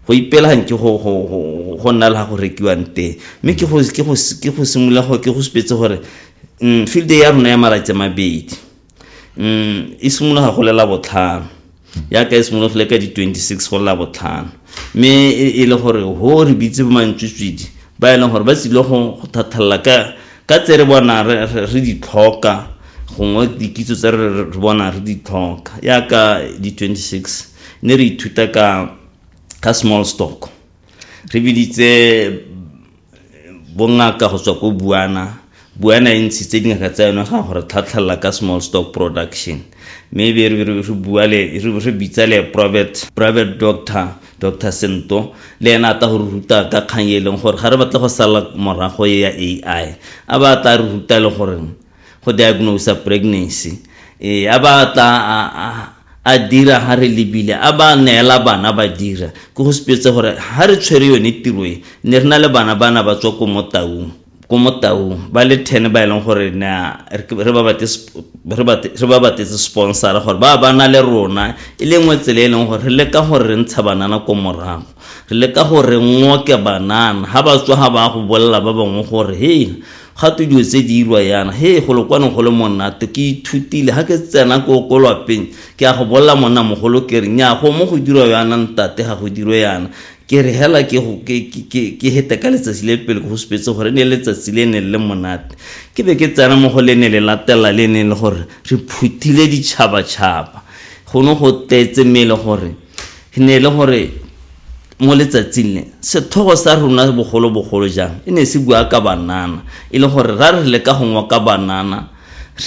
Go ipela nke go, go, go, go nna le ga go rekiwang teng. Mme ke go, ke go, ke go simolola go, ke go supetse gore mm, field ya rona ya malatsi a mabedi mm, e simologa go lela botlhano. yaka e simologo le ka di 26 go lla botlhano mme e le gore ho re bitse bo mantswitswidi ba e leng gore ba tsile go thathalela ka ka tse re bona re di tlhoka gongwe dikitso tse re bona re di tlhoka yaka di 26 ne re ithuta ka ka small stock re biditse bongaka go tswa ko buana buana e ntshitse dingaka tsa yone ga gore tlhatlhelela ka small stock production mme be re bitsa le private private doctor dr sento le ena a tla go re ruta ka kgang e leng gore ga re batle go sala morago e ya ai a ba tla re ruta le gore go diagnose pregnancy ee a ba tla a dira ha re lebile a ba neela bana ba dira ke go sepetse gore ha re tshwere yone tiro e ne re na le bana ba na ba tswa ko mo taung ko mo taung ba le ten ba e leng gore na re ba batetse sponsora gore ba ba na le rona e le nngwe tsela e leng gore re leka gore re ntsha banana ko morago re leka gore ngoke banana ha ba tswa ga ba go bolelela ba bangwe gore he Gato dilo tse di irwa yana. Hee golo kwano go le monato, ke ithutile. Ha ke tsena ko ko lwapeng, ke ya go bolela monna mogolo ke re, Nnyaa, go mo go dirwa yana ntate, ga go dirwe yana. Ke re hela ke go ke ke ke hete ka letsatsi le pele ke go supetse gore e ne e le letsatsi le ne le le monate. Ke be ke tsena mo go le ne le latelela le e neng e le gore re phuthile ditšhabatšhaba. Go ne go tletse mme e le gore. E ne e le gore mo letsatsing le, sethogo sa rona bogolobogolo jang e ne se bua ka banana, e le gore ra re leka go ngoka banana,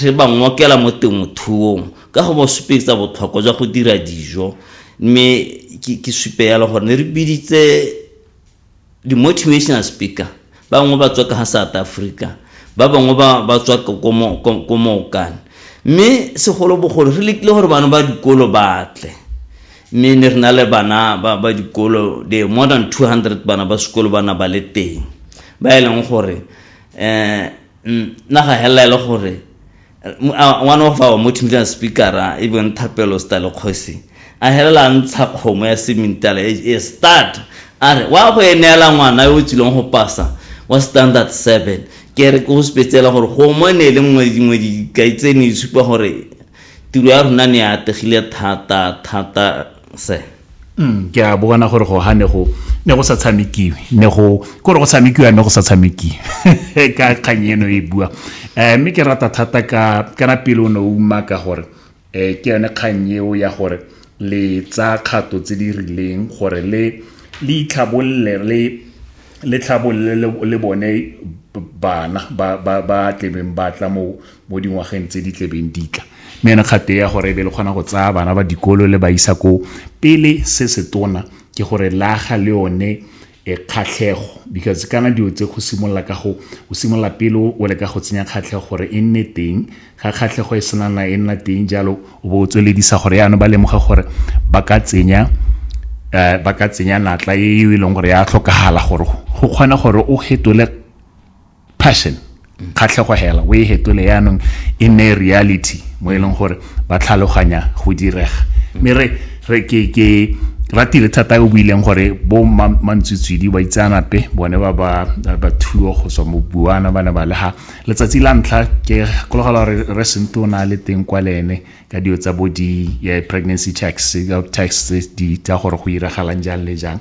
re ba ngokela mo temothuong ka go ba supetsa botlhokwa jwa go dira dijo. Mme ke supe yalo gore ne re biditse. di-motivational speaker, ba bangwe ba tswa ka ga South Africa, ba bangwe ba tswa ko mookane. Mme segolobogolo re lekile gore bana ba dikolo batle, mme ne re na le bana ba dikolo the more than two hundred bana ba sekolo ba na ba le teng, ba e leng gore um naga helela e le gore One of our multimedia speakera e beng Thapelo Stale Kgosi a helela a ntsha kgomo ya semintala e, e start a re wa go e neela ngwana yo o tswileng go pasa wa standard seven ke re ke go supetsela gore kgomo ne e le nngwe dingwe dikai tse ne di supa gore tiro ya rona ne e ategile thata thata se mm, ke a bona gore go ha ne go ne go sa tshamekiwe ne go kore go tshamekiwa mme go sa tshamekiwe ka kgang eno e bua um mme ke rata thata ka kana pele o ne o uma ka gore um ke yone kgang eo ya gore le tsa kgato tse di rileng gore le le itlhabolole le le tlhabolole le bone bana ba ba ba tlebeng ba tla mo mo dingwageng tse di tlebeng ditla mme yone kgate ya gore e be le kgona go tsaya bana ba dikolo le ba isa koo pele se se tona ke gore laga le yone e kgatlhego because kana dilo tse go simolola ka go o simolola pele o le ka go tsenya kgatlhego gore e nne teng ga kgatlhego e senana e nna teng jalo o bo o tsweledisa gore yana ba lemoga gore ba ka tsenya eh, ba ka tsenya natla e e leng gore ya tlhokagala gore go kgona gore o hetole passion kgatlhego hela o e hetole yaanong e nne reality mo e leng gore ba tlhaloganya go direga mme re re ke ke ratile thata o buileng gore bo mantswitswidi ba itseanape bone ba ba ba thuo go tswa mo buana ba ne ba lega letsatsi la ntlha ke kologela gore re sento o na le teng kwa le ene ka dio tsa bo di pregnancy tax tax di tsa gore go iragalang jang le jang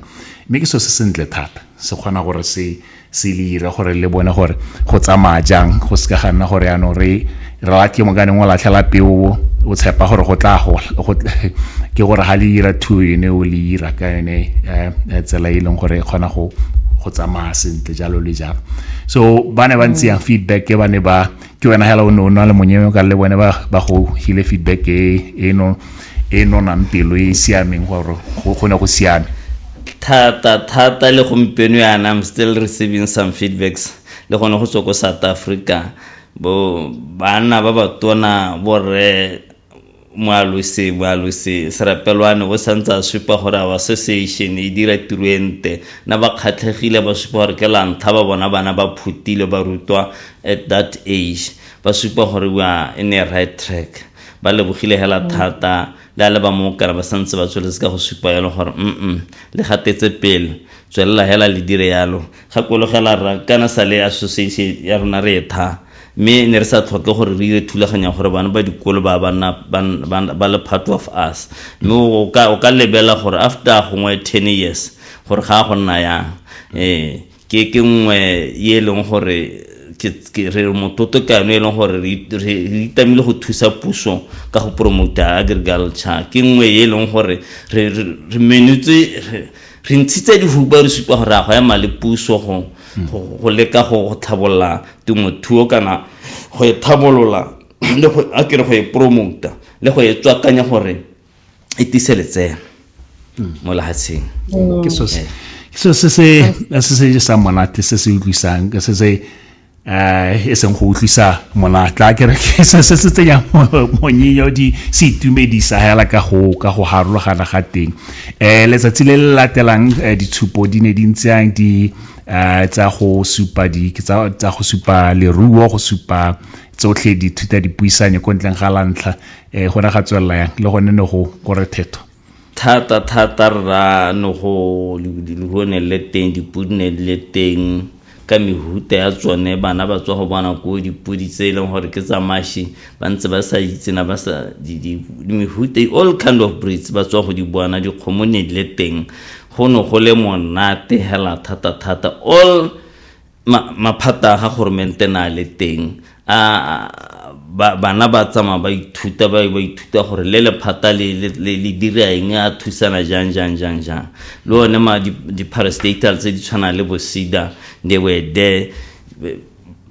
mme ke so se sentle thata se kgona gore se se le ira gore le bone gore go tsamaya jang go se ka ga nna gore yaanong re ra ke mokaneng o latlhela peo o tshepa gore go tla gola ke gore ga le ira thuo yone o le ira ka yone eh, eh, tsela e leng gore e kgona go go tsamaya sentle jalo le jalo so ba ne ba ntse yang feedback e ba ne ba ke wena hela o ne o na le monyeo ka le bone ba go hile feedback e eno e nonang pelo e e siameng gore go ne go siame thata thata le gompieno yana I'm still receiving some feedbacks le gone go tswa ko South Africa bo bana ba batona borre moalosi moalosi serapelwane o santse a supa gore our association e dira tiro e nte na ba kgatlhegile ba supa gore ke lantlha ba bona bana ba phutile ba rutwa at that age ba supa gore we are in a right track Ba lebogile hela thata le a leba mo okare ba santse ba tsweletse ka go supa yalo gore mm le gatetse pele tswelela hela le dire yalo gakologela rra kana sa le association ya rona re etha mme ne re sa tlhoke gore re dire thulaganya gore bana ba dikolo ba banna ba le part of us mme o ka lebela gore after gongwe ten years gore ga a go nna yang ee ke ke nngwe ye e leng gore re mototo kano e leng gore re itamile go thusa puso ka go promota agriculture ke nngwe ye e leng gore re menutse re ntshitse dihuba re supa gore a go ema le puso go go leka go tlhabolola temothuo kana go e tlhabolola le go a kere go e promota le go e tswakanya gore e tise letseno mo lehatsheng mm. ke so se so se se se se sa monate se se utlwisang ke se se eh e seng go utlwisa monatla ke re ke se se se tsenya monyinyo di se itumedisa hela ka go ka go harologana ga teng eh letsatsi le le latelang eh, ditshupo di ne di ntseng di eh, tsa go supa di ke tsa go supa leruo go supa tsotlhe dithuta dipuisanyo ko ntleng ga lantlha eh go ra ga tswelela yang le gone ne go kore thetho thata thata rra ne go go ne le teng dipodi ne le teng ka mehuta ya tsone bana ba tswa go bona ko dipodi tse e leng gore ke tsa mashi ba ntse ba sa itsena ba sa mehuta all kind of breeds ba tswa go di bona dikgomo ne le teng go ne go le monate hela thata thata all maphata a ga goromente na le teng a bana ba tsamaya ba ithuta ba ba ithuta gore le lephata le le dira eng a thusana jang jang jang jang le one ma di-parastatal tse di tshwanang le bosida they were there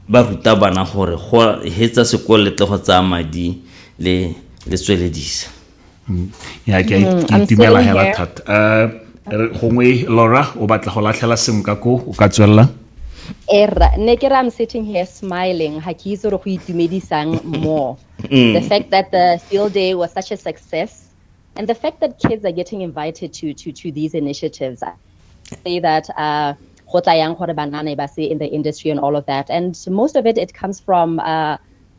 ba ruta bana gore go hetsa sekolo le tle go tsaya madi le le tsweledisa mm. ya ke mm, itumela hela thata uh, gongwe laura o batla go latlhela sengwe ka ko o ka tswelela erra ne ke re i'm sitting here smiling ha ke itse gore go itumedisang more mm. the fact that the field day was such a success and the fact that kids are getting invited to to to these initiatives I say that uh go tla yang gore banana ba se in the industry and all of that and most of it it comes from uh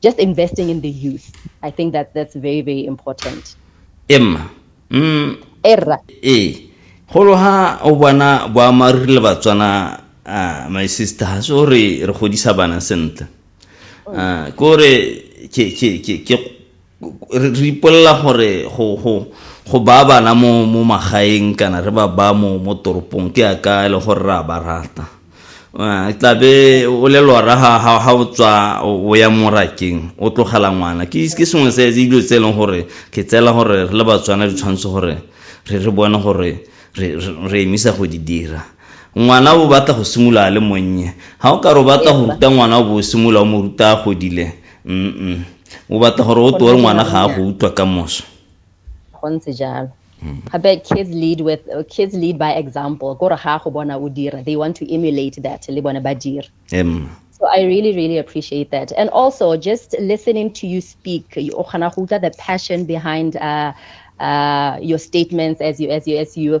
just investing in the youth. I think that that's very, very important. Emma. Mm. Erra. Eh. Golo ha o bona boammaaruri le Batswana uh, my sister ha se gore re godisa bana sentle uh, ke gore ke re ipolela gore go go go ba bana mo mo magaeng kana re ba ba mo mo toropong ke a ka le gore ra ba rata eh, tla be o le lora ha ha ha o tswa o ya morakeng o tlogela ngwana ke ke sengwe se dilo tse e leng gore ke tsela gore re le batswana di tshwanetse gore re re bone gore re re emisa go di dira ngwana o batla go simolola le monnye ga o ka re o batla go ruta ngwana o bo o simolola o mo ruta a godile mm o batla gore o tore ngwana ga a go utlwa ka moso go ntse jalo hmm. gape kids lead with uh, kids lead by example kore ga go bona o dira they want to emulate that le bone ba dira So I really, really appreciate that. And also, just listening to you speak, the passion behind uh, uh, your statements as you as you as you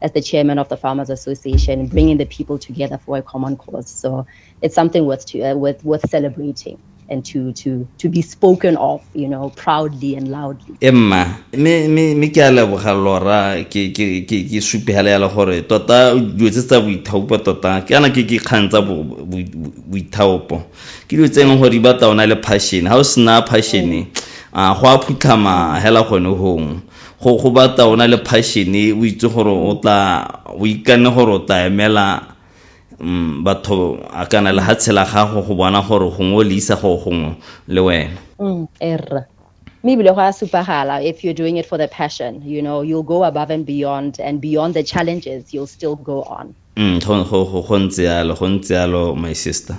as the chairman of the Farmers Association, bringing the people together for a common cause. So it's something worth to, uh, worth worth celebrating and to to to be spoken of, you know, proudly and loudly. Emma, me me me ke a leboga lora ke ke ke ke supegela ya gore tota dilo tse tsa boithaopo tota ke ana ke ke kgang tsa boithaopo ke dilo tse e leng gore di batla ona le passion ga o sena passion a go a phutlhama hela gone gongwe Go go batla o na le passion e o itse gore o tla o ikanne gore o tla emela mm, batho a kana le ha tshela gago go bona gore gongwe o le isa go gongwe le wena. Mm, erra. Mme ebile go a supagala if you're doing it for the passion, you know, you'll go above and beyond and beyond the challenges, you'll still go on. Mm, go go go go ntse yalo, go ntse yalo my sister.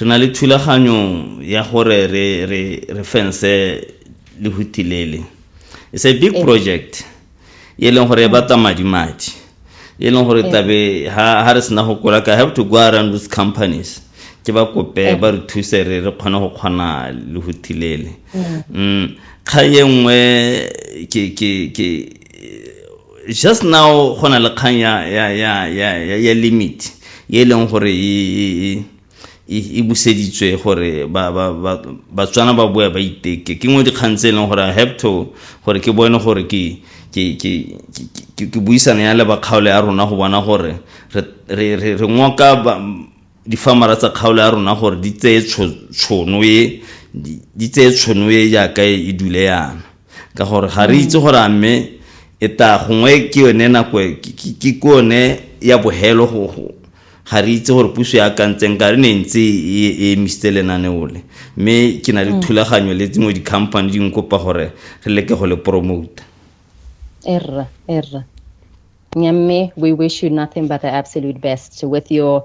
Re na le thulaganyo ya gore re re re fense lehuti lele. It's a big project e leng gore e batla madi madi. E leng gore tabe ha ha re sena go kola ka have to go around those companies. Ke ba kope ba re thuse re re kgone go kgona lehuti lele. Kga ye nngwe ke ke ke just now go na le kgang ya ya ya ya ya, ya limit e leng gore e, e, e, e, e buseditswe gore ba ba ba batswana ba boya ba iteke ke ngwe dikgang tse e leng gore i have to gore ke bone gore ke ke ke ke ke buisana ya le bakgaole ya rona go bona gore re re re re ngoka difamara tsa kgaolo ya rona gore di tseye tshono e di tseye tshono e jaaka e dule yana ka gore ga re itse gore a mme e ta gongwe ke yone nako e, ke ke yone ya bohelo go ga re itse gore puso ya akantseng ka re ne ntse e, e emisitse lenaneo le mme ke na le mm. thulaganyo le tsengwe di-company di nkopa gore re leke go le promota erra erra nyamme we wish you nothing but the absolute best with your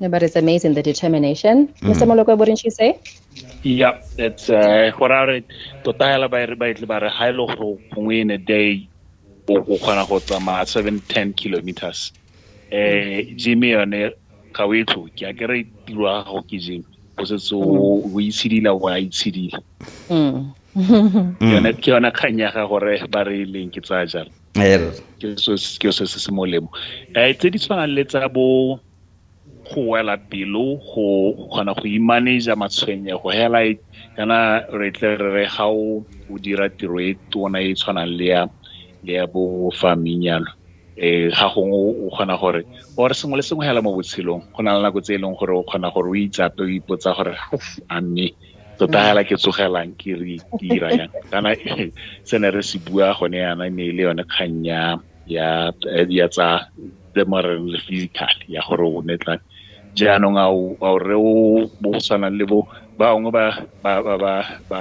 Yeah, but it's amazing the determination. Mm. Mr. Moloko, wouldn't you say? Yeah, that's uh, what I read. Tota hela ba re ba itle ba re ha ile go gongwe in a day o go kgona go tsamaya 7 10 kilometers. Eh Jimmy yone ka o itlo ke a kere tiro ya gago ke Jimmy o setse o mm. itshidila o a itshidila. Mm. yone ke yona kgang ya ga gore ba re leng ke tsaya jalo ke se se molemo um tse di tshwanang le tsa bo go wela pelo go kgona go imaneja matshwenyego hela kana re tle re re ga o o dira tiro e tona e tshwanang le ya le ya bo farming yalo um ga gongwe o kgona gore or sengwe le sengwe hela mo botshelong go na le nako tse e leng gore o kgona gore o itsape o ipotsa gore a mme tota hela ke tsogelang ke re ke ira yang kana se ne re se bua gone yana ne e le yone kgang ya ya tsa le mare le physical ya gore o ne tla jaanong a o a o re o bo go tshwanang le bo bangwe ba ba ba ba ba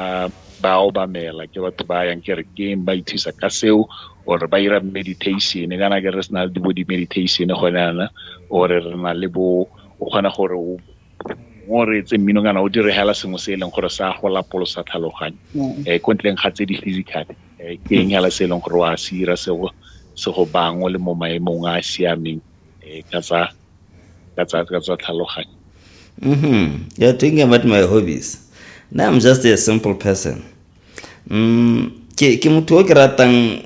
ba obamela ke batho ba yang ke re keng ba ithusa ka seo or ba ira meditation kana ke re sena le bo di-meditation gone yana or re na le bo o kgona gore o mo reetse mmino kana o diregela sengwe se e leng gore sa go lapolosa tlhaloganyo um eh, ko ntleng ga tse di physical eh, ke eng hela se e leng gore wa se dira se go se go bangwe le mo maemong a a siameng eh, ka tsa ka tsa ka tsa tlhaloganyo Mm-hmm. You're talking about my hobbies. Now I'm just a simple person. Mm, ke, ke motho o ke ratang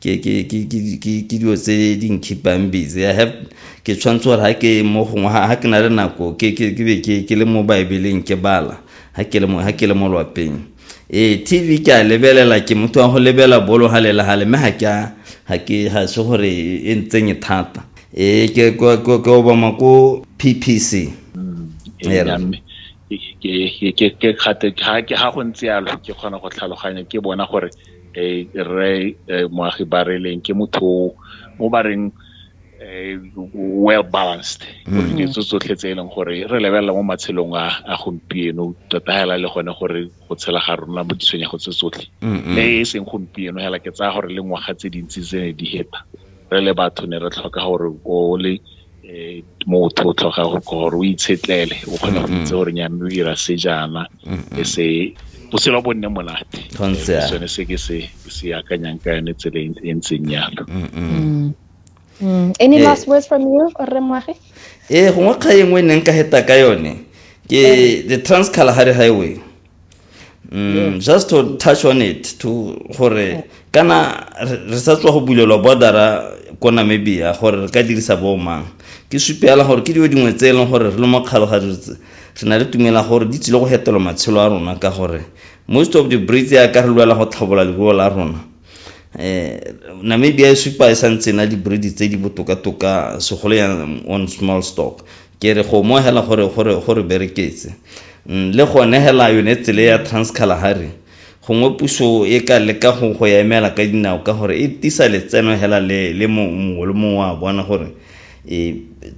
ke dilo tse di nkhipang busy i have ke tshwanetse gore ga ke mo gongwe ga ke na le nako ke be ke le mo baebeleng ke bala ga ke le mo lwapeng ee tv ke a lebelela ke motho wa go lebela bolo ga le le gale mme ga se gore e ntsenye thata ee ke obama ko ppc ga go ntse yalo ke kgona go tlhaloganya ke bona gore eh, rre eh, moagi ba re leng ke motho o ba reng eh, well balanced mm. gore ditso tsotlhe tse e leng gore re lebelela mo matshelong a a gompieno tota hela le gone gore go tshela ga rona mo ditshwenyego tse tsotlhe le e seng gompieno hela ke tsaya gore le ngwaga tse dintsi tse ne di heta re le batho ne re tlhoka gore o le motho o tlhoka gore o itshetlele o kgona go itse gore nyame o dira se jaana e se botshelo bo nne monate sone se ke se se akanyang ka yone tsela e ntseng yalo any last words from you rre moagi ee gongwe kga e nngwe e neng ka heta ka yone ke the trans kalahari highway mm, yeah. just to touch on it to gore kana re sa tswa go bulelwa bordera ko namibia gore re ka dirisa bomang ke supela gore ke dilo dingwe tse e leng gore re le mo kgalogajotse re na le tumela gore di tsile go fetola matshelo a rona ka gore most of the breeds ya ka re lwela go tlhabola leruo la rona eh namibia e supa e santse na di-breed tse di botoka-toka segolo ya on small stock Ke re go mo hela gore gore gore bereketse. Umm le gone hela yone tsele ya Trans Kalahari gongwe puso e ka leka go go ya emela ka dinao ka gore e tisa letseno hela le le mo mongwe le mongwe wa bona gore e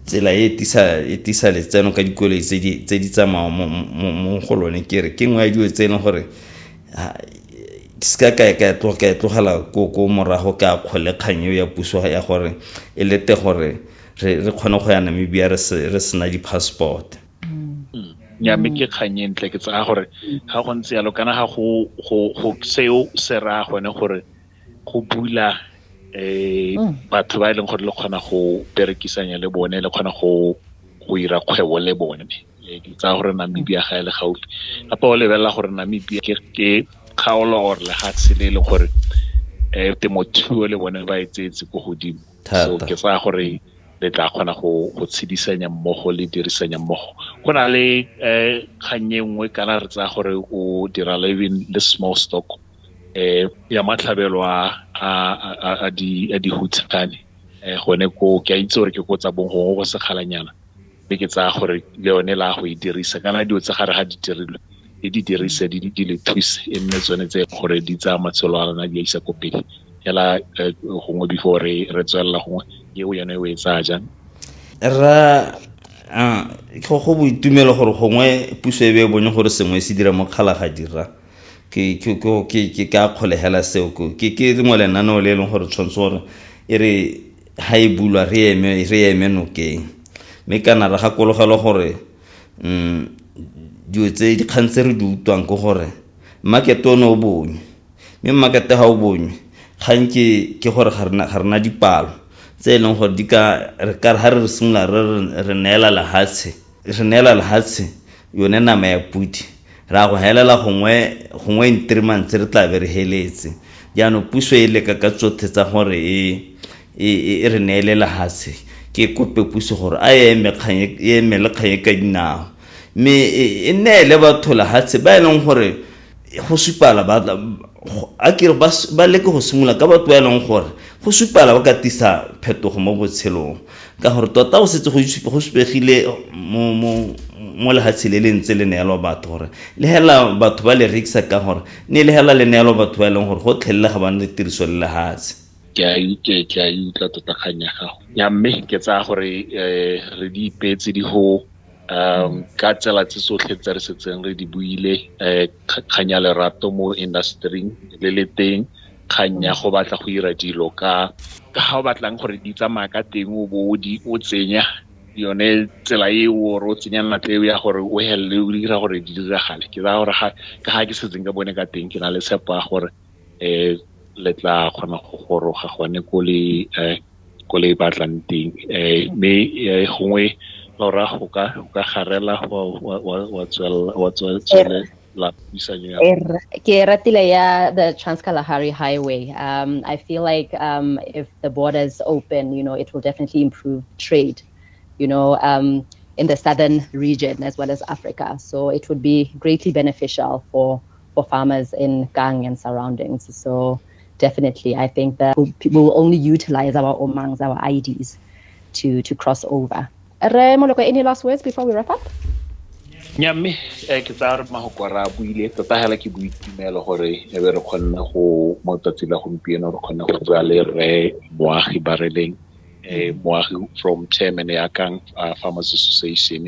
tsela e tisa e tisa letseno ka dikoloi tse di tse di tsamaya mo mo mo go lone ke re ke nngwe ya dilo tse e leng gore ke se ka ka ka tloga ka e tlogela ko ko morago ka kgole kgang eo ya puso ya gore e lete gore re re kgone go ya namibia re sena di-passport mm. ya mme ke kgang e ntle ke tsaya gore ga go ntse yalo kana ga go seo se raya gone gore go bula eh mm. batho ba e leng gore le kgona go berekisanya le bone le kgona go go ira kgwebo le bone eh, ke tsaya gore namibia ga e le gaufi gape o lebelela gore namibia ke kgaolo or lefatshe le e leng gore um temothuo le bone ba e tseetse ko godimo so ke tsaya gore le tla kgona go go tshedisanya mmogo le dirisanya mmogo go na le um kgannye nngwe kana re tsaya gore o dira living le small stock um ya matlhabelo a dihutshane um gone ko ke a itse gore ke ko tsa bong gongwe go sekgalanyana mme ke tsaya gore le yone la go e dirisa kana dilo tsa gare ga di dirilwe le di dirise di di le thuse e nne tsone tse gore di tsaya matshelo a rona di a isa ko pele fela eh, gongwe before re re tswelela gongwe eo yone o e tsaya jang ra ah, go go boitumelo gore gongwe puso e be e bone gore sengwe se dira mo kgala ga dira ke ke ke ke ka kgolegela seo ke ke lengwe lenaneo le e leng gore tshwanetse gore e re Ha e bulwa, re eme, re eme nokeng. Mme kana re gakologelwe gore dilo tse, dikgang tse re di utlwang ke gore market-e o ne o bonywe. Mme market-e ha o bonywe, kgang ke, ke gore ga rena, ga rena dipalo tse e leng gore di ka, re ka re ha re simolola re re re neela lehatshe, re neela lehatshe yone nama ya podi ra go helela gongwe gongwe in three months re tla be re heletse jaanong puso e leka ka tsothe tsa gore e e, e, e re neele lehatshe ke kope puso gore a e eme e le kgang e ka dinao mme e, e neele batho lehatshe ba e leng gore go supala ba a kere ba leke go simolola ka batho ba e leng gore go supala ba ka tisa phetogo mo botshelong ka gore tota go setse go supegile mo lehatshe le le ntse le neelwa batho gore le hela batho ba le rekisa ka gore ne le hela le neelwa batho ba e leng gore go tlhelele ga ba ne tiriso le lehatshe ke a utlwe ke a utlwa tota kgang ya gago ya mme ke tsaya gore re di ipeetse di go um ka tsela tse tsotlhe tse re setseng re di buile um kgang ya lerato mo industry-ing le le teng kgang ya go batla go dira dilo ka ka ga o batlang gore di tsamaya ka teng o bo o di o tsenya yone tsela e o re o tsenya natla eo ya gore o helele o dira gore di diragale ke tsaya gore ka ga ke setseng ka bone ka teng ke na le tshepo ya gore um le tla kgona go goroga gone ko le um ko le batlang teng um mme gongwe lora go ka go ka garela wa tswelela puisanyo ya ke ratile ya the transkalahari highway um i feel like um if the border is open you know it will definitely improve trade you know um in the southern region as well as africa so it would be greatly beneficial for for farmers in Kang and surroundings. So definitely, I think that we'll, we'll only utilize our omangs, our IEDs, to, to cross over. Re Moloko, any last words before we wrap up? nya mme eh, ke tsaya re mahoko a re a buile tota fela ke boitumelo gore e be re kgonne go mo tsatsi la gompieno re kgonne go tswa le rre moagi ba releng eh, moagi from chairman ya kang uh, farmers association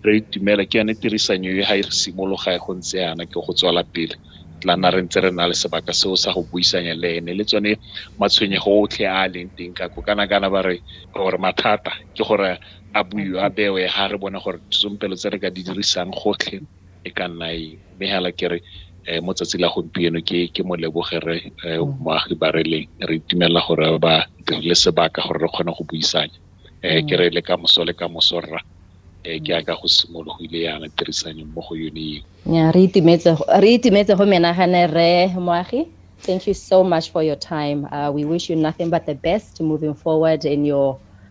re itumela ke yone tirisanyo e ga e re simologa go ntse yana ke go tswela pele tla na re ntse re na le sebaka seo sa go buisanya le ene le tsone matshwenyego otlhe a a leng teng ka ko kana kana ba re gore mathata ke gore a buiwa a bewe ga re bone gore disompelo tse re ka di dirisang gotlhe e ka nna eng mme fela ke re mo tsatsi la gompieno ke ke mo leboge re moagi ba re leng re itumelela gore ba dirile sebaka gore re kgone go buisanya um ke re le ka moso le ka moso rra um ke yaka go simologile yana tirisano mo go yone eo ya re itumetse re itumetse go menagane re moagi thank you so much for your time uh, we wish you nothing but the best moving forward in your